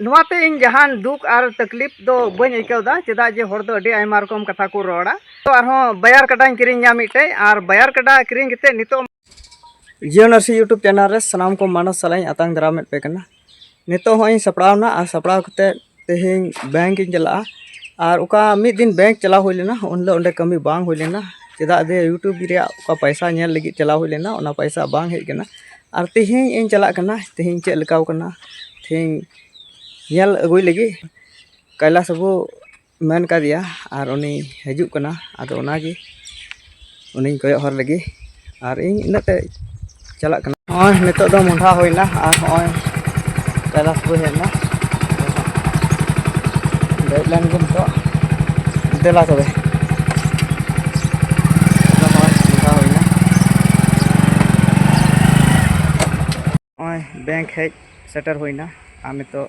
ᱱᱚᱣᱟᱛᱮ ᱤᱧ ᱡᱟᱦᱟᱱ ᱫᱩᱠ ᱟᱨ ᱛᱟᱠᱞᱤᱯ ᱫᱚ ᱵᱟᱹᱧ ᱟᱹᱭᱠᱟᱹᱣᱫᱟ ᱪᱮᱫᱟᱜ ᱡᱮ ᱦᱚᱲ ᱫᱚ ᱟᱹᱰᱤ ᱟᱭᱢᱟ ᱨᱚᱠᱚᱢ ᱠᱟᱛᱷᱟ ᱠᱚ ᱨᱚᱲᱟ ᱛᱚ ᱟᱨᱦᱚᱸ ᱵᱟᱭᱟᱨ ᱠᱟᱰᱟᱧ ᱠᱤᱨᱤᱧᱟ ᱢᱤᱫᱴᱮᱡ ᱟᱨ ᱵᱟᱭᱟᱨ ᱠᱟᱰᱟ ᱠᱤᱨᱤᱧ ᱠᱟᱛᱮ ᱱᱤᱛᱚᱜ ᱡᱤᱭᱳ ᱱᱟᱨᱥᱤ ᱤᱭᱩᱴᱩᱵᱽ ᱪᱮᱱᱮᱞ ᱨᱮ ᱥᱟᱱᱟᱢ ᱠᱚ ᱢᱟᱱᱚᱥ ᱥᱟᱞᱟᱜ ᱤᱧ ᱟᱛᱟᱝ ᱫᱟᱨᱟᱢᱮᱫ ᱯᱮ ᱠᱟᱱᱟ ᱱᱤᱛᱚᱜ ᱦᱚᱸ ᱤᱧ ᱥᱟᱯᱲᱟᱣᱱᱟ ᱟᱨ ᱥᱟᱯᱲᱟᱣ ᱠᱟᱛᱮ ᱛᱮᱦᱮᱧ ᱵᱮᱝᱠ ᱤᱧ ᱪᱟᱞᱟᱜᱼᱟ ᱟᱨ ᱚᱠᱟ ᱢᱤᱫ ᱫᱤᱱ ᱵᱮᱝᱠ ᱪᱟᱞᱟᱣ ᱦᱩᱭ ᱞᱮᱱᱟ ᱩᱱ ᱦᱤᱞᱳᱜ ᱚᱸᱰᱮ ᱠᱟᱹᱢᱤ ᱵᱟᱝ ᱦᱩᱭ ᱞᱮᱱᱟ ᱪᱮᱫᱟᱜ ᱡᱮ ᱤᱭᱩᱴᱩᱵᱽ ᱨᱮᱭᱟᱜ ᱚᱠᱟ ᱯᱚᱭᱥᱟ ᱧᱮᱞ ᱞᱟᱹᱜᱤᱫ ᱪᱟᱞᱟᱣ ᱦᱩᱭ ᱞᱮᱱᱟ ᱚᱱᱟ ᱯᱚᱭᱥᱟ ᱵᱟᱝ ᱦᱮᱡ ᱠᱟᱱᱟ ᱟᱨ ᱛᱮᱦᱮᱧ ᱤᱧ ᱪᱟᱞᱟᱜ ᱠᱟᱱᱟ ᱛᱮᱦᱮᱧ ᱪᱮᱫ ᱞᱮᱠᱟᱣ ᱠᱟᱱᱟ ᱛᱮᱦᱮᱧ ᱧᱮᱞ ᱟᱹᱜᱩᱭ ᱞᱟᱹᱜᱤᱫ ᱠᱟᱭᱞᱟᱥ ᱵᱟᱹᱵᱩ ᱢᱮᱱ ᱠᱟᱫᱮᱭᱟ ᱟᱨ ᱩᱱᱤ ᱦᱤᱡᱩᱜ ᱠᱟᱱᱟ ᱟᱫᱚ ᱚᱱᱟᱜᱮ ᱩᱱᱤᱧ ᱠᱚᱭᱚᱜ ᱦᱚᱨ ᱞᱟᱹᱜᱤᱫ ᱟᱨ ᱤᱧ ᱤᱱᱟᱹᱜ ᱛᱮ ᱪᱟᱞᱟᱜ ᱠᱟᱱᱟ ᱱᱚᱜᱼᱚᱭ ᱱᱤᱛᱚᱜ ᱫᱚ ᱢᱚᱦᱰᱟ ᱦᱩᱭᱱᱟ ᱟᱨ ᱱᱚᱜᱼᱚᱭ ᱠᱟᱭᱞᱟᱥ ᱵᱟᱹᱭ ᱦᱮᱡ ᱮᱱᱟ ᱫᱮᱡ ᱞᱮᱱ ᱜᱮ ᱱᱤᱛᱚᱜ ᱫᱮᱞᱟ ᱛᱚᱵᱮ ᱱᱚᱜᱼᱚᱭ ᱵᱮᱝᱠ ᱦᱮᱡ ᱥᱮᱴᱮᱨ ᱦᱩᱭᱱᱟ ᱟᱨ ᱱᱤᱛᱚᱜ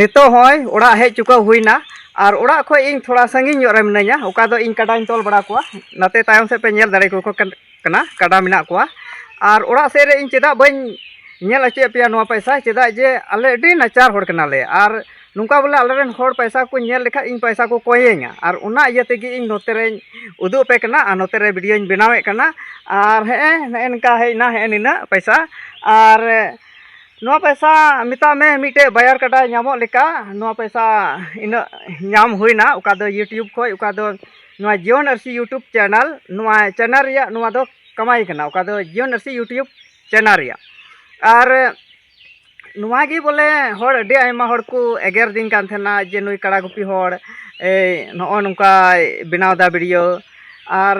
ᱱᱤᱛᱚᱜ ᱦᱚᱸᱭ ᱚᱲᱟᱜ ᱦᱮᱡ ᱪᱩᱠᱟᱹᱣ ᱦᱩᱭᱱᱟ ᱟᱨ ᱚᱲᱟᱜ ᱠᱷᱚᱡ ᱤᱧ ᱛᱷᱚᱲᱟ ᱥᱟᱺᱜᱤᱧ ᱧᱚᱜ ᱨᱮ ᱢᱤᱱᱟᱹᱧᱟ ᱚᱠᱟ ᱫᱚ ᱤᱧ ᱠᱟᱰᱟᱧ ᱛᱚᱞ ᱵᱟᱲᱟ ᱠᱚᱣᱟ ᱱᱟᱛᱮ ᱛᱟᱭᱚᱢ ᱥᱮᱫ ᱯᱮ ᱧᱮᱞ ᱫᱟᱲᱮ ᱠᱚ ᱠᱟᱱᱟ ᱠᱟᱰᱟ ᱢᱮᱱᱟᱜ ᱠᱚᱣᱟ ᱟᱨ ᱚᱲᱟᱜ ᱥᱮᱫ ᱨᱮ ᱤᱧ ᱪᱮᱫᱟᱜ ᱵᱟᱹᱧ ᱧᱮᱞ ᱦᱚᱪᱚᱭᱮᱫ ᱯᱮᱭᱟ ᱱᱚᱣᱟ ᱯᱚᱭᱥᱟ ᱪᱮᱫᱟᱜ ᱡᱮ ᱟᱞᱮ ᱟᱹᱰᱤ ᱱᱟᱪᱟᱨ ᱦᱚᱲ ᱠᱟᱱᱟᱞᱮ ᱟᱨ ᱱᱚᱝᱠᱟ ᱵᱚᱞᱮ ᱟᱞᱮᱨᱮᱱ ᱦᱚᱲ ᱯᱚᱭᱥᱟ ᱠᱚ ᱧᱮᱞ ᱞᱮᱠᱷᱟᱡ ᱤᱧ ᱯᱚᱭᱥᱟ ᱠᱚ ᱠᱚᱭᱮᱧᱟ ᱟᱨ ᱚᱱᱟ ᱤᱭᱟᱹ ᱛᱮᱜᱮ ᱤᱧ ᱱᱚᱛᱮ ᱨᱮᱧ ᱩᱫᱩᱜ ᱟᱯᱮ ᱠᱟᱱᱟ ᱟᱨ ᱱᱚᱛᱮ ᱨᱮ ᱵᱷᱤᱰᱤᱭᱳᱧ ᱵᱮᱱᱟᱣᱮᱫ ᱠᱟᱱᱟ ᱟᱨ ᱦᱮᱸ ᱱᱮᱜᱼᱮ ᱱᱤᱝᱠᱟ ᱦᱮᱡ ᱮᱱᱟ ᱦᱮᱸ ᱱᱤᱱᱟᱹᱜ ᱯᱚᱭᱥᱟ ᱟᱨ ᱱᱚᱣᱟ ᱯᱚᱭᱥᱟ ᱢᱮᱛᱟᱜ ᱢᱮ ᱢᱤᱫᱴᱮᱡ ᱵᱟᱭᱟᱨ ᱠᱟᱰᱟ ᱧᱟᱢᱚᱜ ᱞᱮᱠᱟ ᱱᱚᱣᱟ ᱯᱚᱭᱥᱟ ᱤᱱᱟᱹᱜ ᱧᱟᱢ ᱦᱩᱭᱱᱟ ᱚᱠᱟ ᱫᱚ ᱤᱭᱩᱴᱩᱵᱽ ᱠᱷᱚᱡ ᱚᱠᱟ ᱫᱚ ᱱᱚᱣᱟ ᱡᱤᱭᱚᱱ ᱟᱹᱨᱥᱤ ᱤᱭᱩᱴᱩᱵᱽ ᱪᱮᱱᱮᱞ ᱱᱚᱣᱟ ᱪᱮᱱᱮᱞ ᱨᱮᱭᱟᱜ ᱱᱚᱣᱟ ᱫᱚ ᱠᱟᱢᱟᱭ ᱠᱟᱱᱟ ᱚᱠᱟ ᱫᱚ ᱡᱤᱭᱚᱱ ᱟᱹᱨᱥᱤ ᱤᱭᱩᱴᱩᱵᱽ ᱪᱮᱱᱮᱞ ᱨᱮᱭᱟᱜ ᱟᱨ ᱱᱚᱣᱟ ᱜᱮ ᱵᱚᱞᱮ ᱦᱚᱲ ᱟᱹᱰᱤ ᱟᱭᱢᱟ ᱦᱚᱲ ᱠᱚ ᱮᱜᱮᱨᱫᱤᱧ ᱠᱟᱱ ᱛᱟᱦᱮᱱᱟ ᱡᱮ ᱱᱩᱭ ᱠᱟᱲᱟ ᱜᱩᱯᱤ ᱦᱚᱲ ᱱᱚᱜᱼᱚ ᱱᱚᱝᱠᱟᱭ ᱵᱮᱱᱟᱣᱫᱟ ᱵᱷᱤᱰᱤᱭᱳ ᱟᱨ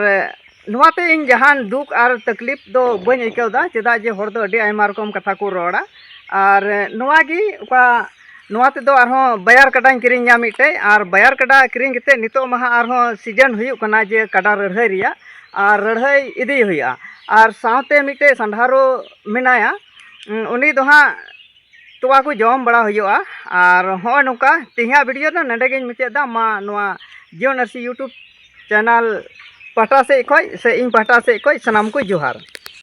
ᱱᱚᱣᱟᱛᱮ ᱤᱧ ᱡᱟᱦᱟᱱ ᱫᱩᱠ ᱟᱨ ᱛᱟᱠᱞᱤᱯ ᱫᱚ ᱵᱟᱹᱧ ᱟᱹᱭᱠᱟᱹᱣᱫᱟ ᱪᱮᱫᱟᱜ ᱡᱮ ᱦᱚᱲ ᱫᱚ ᱟᱹᱰᱤ ᱟᱭᱢᱟ ᱨᱚᱠᱚᱢ ᱠᱟᱛᱷᱟ ᱠᱚ ᱨᱚᱲᱟ ᱟᱨ ᱱᱚᱣᱟ ᱜᱮ ᱚᱠᱟ ᱱᱚᱣᱟ ᱛᱮᱫᱚ ᱟᱨᱦᱚᱸ ᱵᱟᱭᱟᱨ ᱠᱟᱰᱟᱧ ᱠᱤᱨᱤᱧᱟ ᱢᱤᱫᱴᱮᱡ ᱟᱨ ᱵᱟᱭᱟᱨ ᱠᱟᱰᱟ ᱠᱤᱨᱤᱧ ᱠᱟᱛᱮᱫ ᱱᱤᱛᱚᱜ ᱢᱟ ᱦᱟᱸᱜ ᱟᱨᱦᱚᱸ ᱥᱤᱡᱮᱱ ᱦᱩᱭᱩᱜ ᱠᱟᱱᱟ ᱡᱮ ᱠᱟᱰᱟ ᱞᱟᱹᱲᱦᱟᱹᱭ ᱨᱮᱭᱟᱜ ᱟᱨ ᱞᱟᱹᱲᱦᱟᱹᱭ ᱤᱫᱤ ᱦᱩᱭᱩᱜᱼᱟ ᱟᱨ ᱥᱟᱶᱛᱮ ᱢᱤᱫᱴᱮᱡ ᱥᱟᱸᱜᱷᱟᱨᱚ ᱢᱮᱱᱟᱭᱟ ᱩᱱᱤ ᱫᱚ ᱦᱟᱸᱜ ᱛᱚᱣᱟ ᱠᱚ ᱡᱚᱢ ᱵᱟᱲᱟ ᱦᱩᱭᱩᱜᱼᱟ ᱟᱨ ᱦᱚᱸᱜᱼᱚᱭ ᱱᱚᱝᱠᱟ ᱛᱮᱦᱮᱧᱟᱜ ᱵᱷᱤᱰᱤᱭᱳ ᱫᱚ ᱱᱚᱰᱮ ᱜᱤᱧ ᱢᱩᱪᱟᱹᱫ ᱮᱫᱟ ᱢᱟ ᱱᱚᱣᱟ ᱡᱤᱭᱚᱱ ᱟᱹᱨᱥᱤ ᱤᱭᱩᱴᱩᱵᱽ ᱪᱮᱱᱮᱞ ᱯᱟᱦᱴᱟ ᱥᱮᱫ ᱠᱷᱚᱡ ᱥᱮ ᱤᱧ ᱯᱟᱦᱴᱟ ᱥᱮᱫ ᱠᱷᱚᱡ ᱥᱟᱱᱟᱢ ᱠᱚ ᱡᱚᱦᱟᱨ